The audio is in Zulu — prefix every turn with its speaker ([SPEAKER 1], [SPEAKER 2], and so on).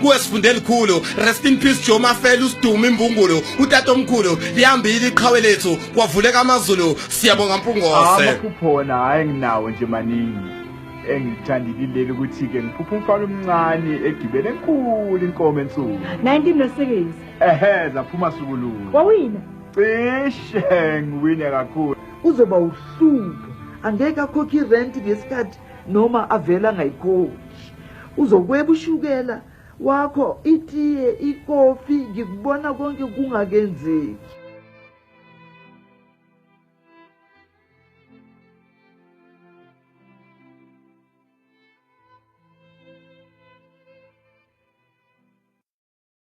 [SPEAKER 1] kuwe sifunde elikhulu rest in peace Joe Mafela usiduma imbungulu utata omkhulu lihambile iqhawe lethu kwavuleka amazulu siyabonga mpungose amaphuphona hayi
[SPEAKER 2] nginawo nje maningi engithandile leli ukuthi ke ngiphupha umfana omncane egibele enkulu inkomo ensuku 19 nosebenzi
[SPEAKER 3] ehe zaphuma
[SPEAKER 2] sukululu wawina
[SPEAKER 3] cishe
[SPEAKER 2] ngiwine kakhulu uzoba
[SPEAKER 4] uhlupho angeke akhokhe irent ngesikhathi noma avela ngayikhokhi uzokweba ushukela wakho itiye ikofi ngikubona konke kungakenzeki